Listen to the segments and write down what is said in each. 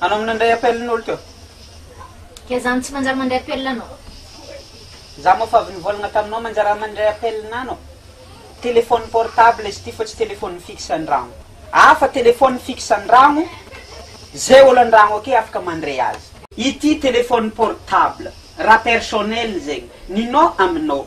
Anao minandray appel n'olo teo? Dia za no tsy manjary mandray appel anao. Za moa fa avy nivolagna taminao manjary mandray appel anao. Téléphone portable izy ity fa tsy téléphone fixe andragno. Hafa téléphone fixe andragno, zay olo andragno ake afaka mandray azy. Ity téléphone portable, raha personnel zegny, ninao aminao.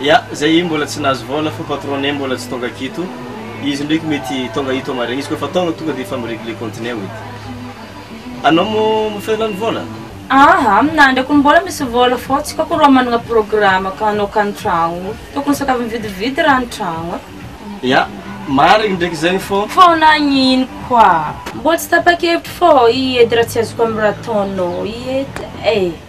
Ya zay mbola tsy nahazo vôla fa patronne mbola tsy tonga akito izy ndraiky mety tonga ito maraigna izy kofa tonga tonga de efa mi regler compte-neo edy anao mo mifehy lany vôla? Aa aminany ko mbola misy vôla fô tsy koko rô managna programme ka anao ka ny tragno tokony sakavy mividividy raha ny tragno e. Ya marigny ndraiky zegny fô. Fô nagnino koa mbola tsy tapa-kevitra fô i edy raha tsy azoko amy raha ataonao i edy e.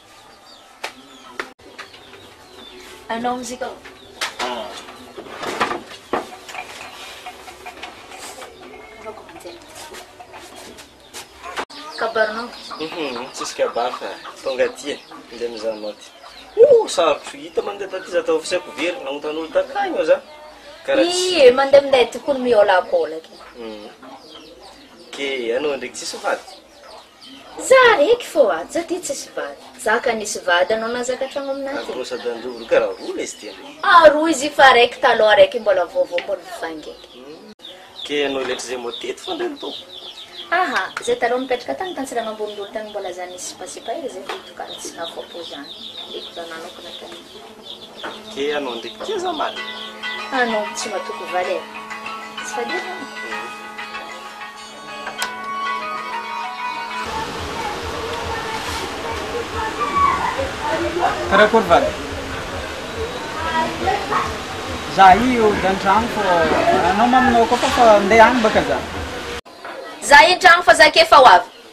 Anao mozika ao. Anaovako manjary. Kabarinao. Mhm, tsisy kabary fa tonga aty e, ndeha mizaha anao aty. Oh, sarotro hita mandeha taty za tao fisiako very, nanontany olo takagny aho za. Karaha tsy- Ie, mandeha minday tokony miôlakôla ke. Mhm. Ke anao ndraiky tsisy vady? Tsara eky fô a! Za ty tsisy vady. Za ka nisy vady anao nahazaka tragno aminah ty. Aroa sady anjo roa karaha roa lesy ty anie. Ah roa izy io fa raiky taloha raiky mbola vaovao mbola vaingaiky. Ke ianao letra zay mô teto fa ndray ny tompo. Aha, zay taloha nipetraka tany tantsirano ambony dolo tany mbola zany nisy sipasipa hely zay vao hitokana tsy ny afapo zany. Eko zany nanokana tany. Dia anao ndraiky tia za maly. Anao no tsy matoky valy e. Tsy faly ela an. Karakory valy? Za io dia an-trano fô anao maminao koa fa fa ndeha any baka za. Za entrano fa za ake efa ho avy.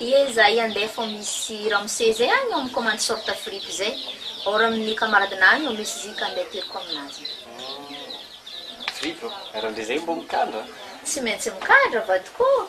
Ye zay andeha fô misy ramose zay agny ô mikomandy short fripy zay or amin'ny camarade nahy ô misy zic andeha ateriko aminazy agny. Tsy maintsy mikandra vadiko ô.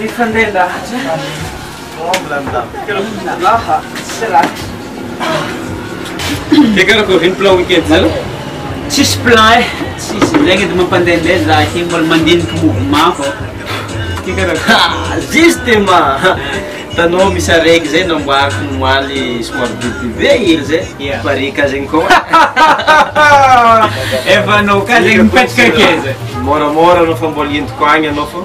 Mifandray lahatra Laha sy ratra. Dia karakôry ve ny plan week-end nareo? Tsisy plan eh, tsisy, zegny edy mampandehandeha za aty mbola mandiniky mouvement fô. Ty karakôry? Justement! Hitanao misy araiky zay namboariko omaly somary bebe be hely zay, Yeah. pare ka zegny koa. Efa anao ka zegny mipetraka akaiza? Môramôra anao fa mbola entiko agny anao fô.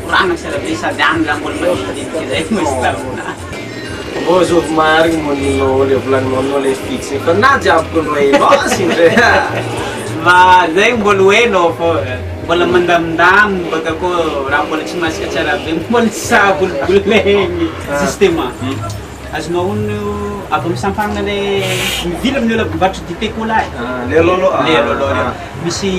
Korana sy arabe sady any nga mbola mandidinika zay no misy taona. Mbô zovy marigny monino le volagninao le fixy fa na jiaby ko loha e basy ndre ah. Mba zay mbola ho eno fô mbola mandamindamy mbô atao koa raha mbola tsy masaka tsara be mbola tsy sahy bolibolegny. Justement. Azonao onony io avy amin'ny sampanina ilay mivily amin'ny olona mivarotra dite cola e. Ah, le lolo. Ah, le lolo reo. Ah. Misy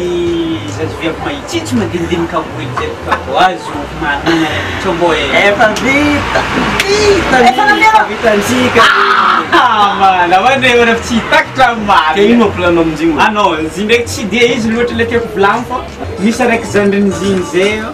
zazaviavy mahitsy tsy madinidinika amboa izay ka vao azo manana ilay combo e. Efa vita! Vita ny! Efa naleo! Vitantsika! Ah, mana, ma ne manaf tsy takitra maro. Ka ino plan-nao amin'izigny? Ah non, izy ndraiky tsy dia izy loatra ilay tiako volan fa misy araiky zandrin'izigny zay eo.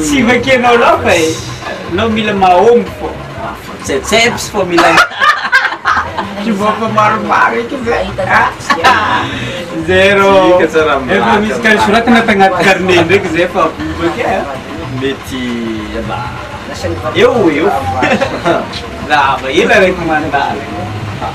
Tsy vakianao loatra e! Anao mila mahomby fô! Tsetseps fô mila mihaha! Kiboka maromaro eky ve? Zero! Efa misy kar soratana tagnaty carnet ndraiky zay fa bobaka e! Mety aba eo ho eo! Lava ela reko mandalo!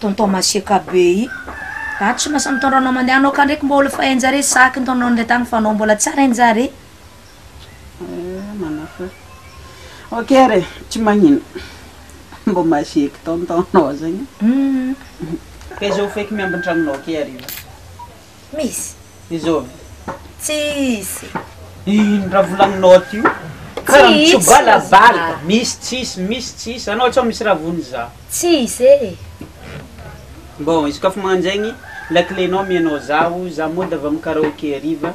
Tonton masiaka be i. Ato tsy masa mitondra anao mandeha anao ka ndreky mbola efa hainjare saky nitondra anao nindray tany fa anao mbola tsy ary hainjare. Eh manao fa ok ary e, tsy magnino. Mbo masiaky tonton nao zegny. Humm. Ka izao feky miambin-tragnonao ke hariva. Misy. Izao ve? Tsisy. Ino raha volaninao ty io? Karaha mitsobala bala. Misy tsisy, misy tsisy. Anao sao misy raha vonona za. Tsisy e. Bon, izy koa fa mananjegny, lakile nao amianao zaho, za mody avy amin'ny karaoke hariva.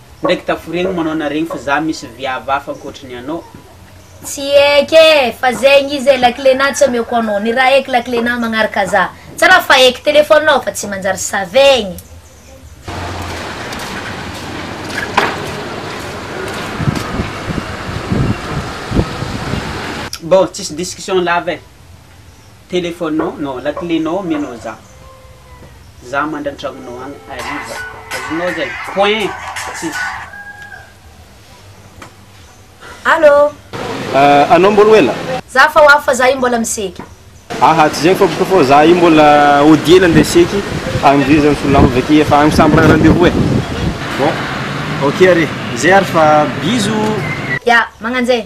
Ndraiky taforegny manao naregny fa za misy viavy hafa ankoatry ny anao. Tsy eky e! Fa zegny izy e! Laklenà tsy omeko anao. Ny raha eky laklenà magnaraka za. Tsy raha fa eky telefonao fa tsy manjary savegny. Bon, tsisy discussion lava e! Telephone-nao non lakile-nao omenao za. Za mandry antragnonao agny hariva. Azonao zay? Point. Tsisy. Allô? Ah, anao mbola ho ela? Za fa ho avy fa za io mbola miseky. Aha, tsy zay fa boko fô za io mbola hodiana andeha seky agny ndry zany solonahy avake efa agny samy raha rendez-vous e. Bon, ok re. Zay ary fa bisous. Ya, magnanjay.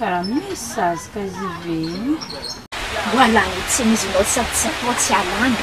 Raha misy zaza ka hiveina. Roalahy io tsy misy nao sady tsy atao tsy alana.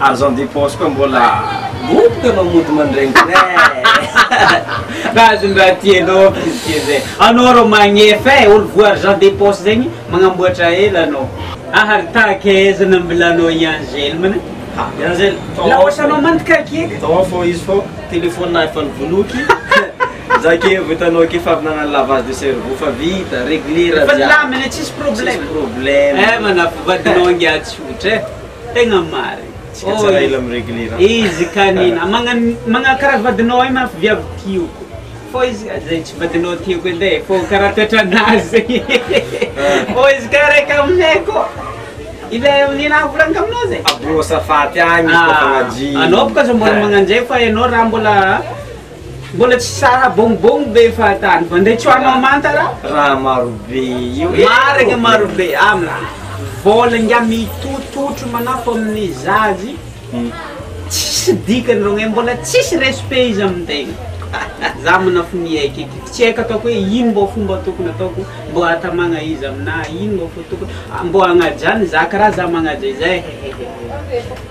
Argent de poche koa mbola boboka anao mody mandrengo eh. Azondraha tianao pitié zay. Anao arô magnefa eh, olo voa argent de poche zegny magnamboatra ela anao. Aha ry tahaka aiza nambilanao i Angèle mna? Ha, i Angèle, tao ao Laosa anao mantika aky eh. Tao ao fô izy fô téléphone nahy efa nivoloky. Za ke vô hitanao ke fa avy nagnano lavage de cerveau fa vita, réglé raha Efa jiaby. nilamina, tsisy Tsisy problème. problème. Eh, manafo vadinao angaha tsotra eh. Tegna marigny. Tsika tsara ela mi regler an. Izy ka nina magna kara vadinao hay mafy viavy tioko fô izy ka zay tsy vadinao tiako edy e fô kara toetranazy fô izy ka raiky aminay kô ilay amy nina mivolaniko aminao zay. Abro asafaty agny izy kôfa ah, madio. Anao bôka aza mbola magnanjay fa ianao raha mbola. Mbola tsy sara bongobongo be fahatany fa ndray tsoahana manta ra? Raha marobe io e! Marigny marobe amla vola ingahy mitototro manafo amin'ny zajy tsisy dikany rogne mbola tsisy respect izy amin'ny tegna za manafo ny aiko eky tsy aiko ataoko hoe ino mbô fomba tokony ataoko mbô atamagna izy aminah ino mbô fo tokony mbô agnaja ny zaka raha za magnaja izay hehehehe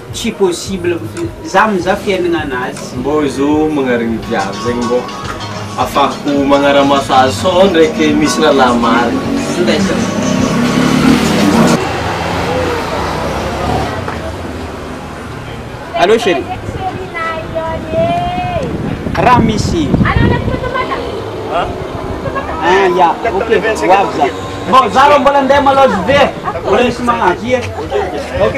Tsy possible mihitsy. Za mizaha fiainagna anazy. Mbô zo magnarigny viavy zegny mbô afahako magnaramaso azy sao ndraiky misy lalahy marigny. Allô cherie. Raha misy. Ah ya ok ho avy za. Bon za rô mbola ndeha malôha je vais. Mbola misy magnavia. Ok.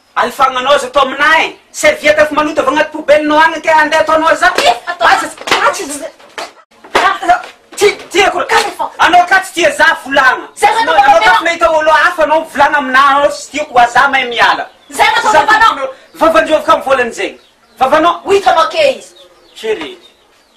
Alifagna nao za to aminahy serviette efa maloto avy agnaty poubelle nao agny ke ande atao nao za Ty ty ako anao ka tsy tia za volagna anao ka mahita olo hafa anao mivolagna aminahy anao tsy tiako wa za mahay miala vavan-dreo avy ka mivolagna zegny vavanao Chérie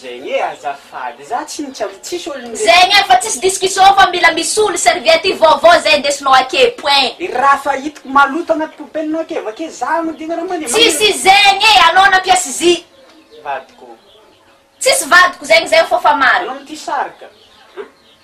Zegny e azafady za tsy nitsy am tsisy olo nde. Zegny e fa tsisy discussion fa mila misy olo serviette io vaovao zay ndesinao ake point. I raha fa hitako maloto agnaty poubelle nao ake vake za agnodina raha mande magnino. Tsisy zegny e anao nampiasy zy. Vadiko. Tsisy vadiko zegny zay o fa fa maro. Anao mitia sary ka.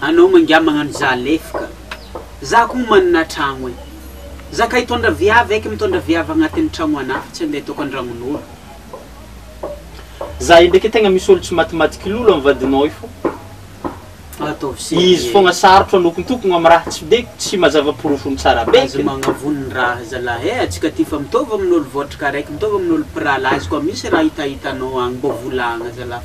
Anao mangiahy magnano za lefy ka. Za ko manana tragno e. Za ka hitondra viavy eky mitondra viavy agnatiny tragno anah tsy ande ataoko andragnonolo. Za ndraiky tegna misy olo tsy matimatiky lolo am vadinao io fa izy fogna sarotro anokontokogno am raha tsy be tsy mazava porofony tsara be. Aza magnavono raha zalahy eh, atsika ty fa mitovy amin'olo votrika araiky mitovy amin'olo mpirahalahy izy koa misy raha hitahitanao agny mbô volagna zala.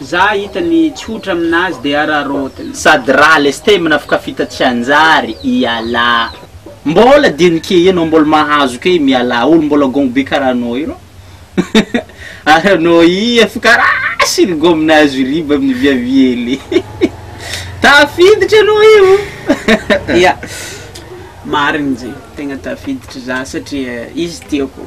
Za hita ny tsotra aminazy de araraotina. Sady raha leste mnafika fita tsy hanjary ialà. Mbola dinika ianao mbola mahazo kay mialà olo mbola gongo be karaha anao io rah ary anao ii efa karaha sirgom nahazo riba amin'ny viaviele tafiditra anao io. Ya, marigny zegny, tegna tafiditry za satria izy tiako.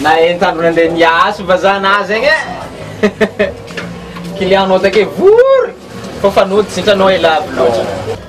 na entano nandeha niasy vazaha nazy egny e client-nao take vory fa fanoditra hitanao e lavo loatra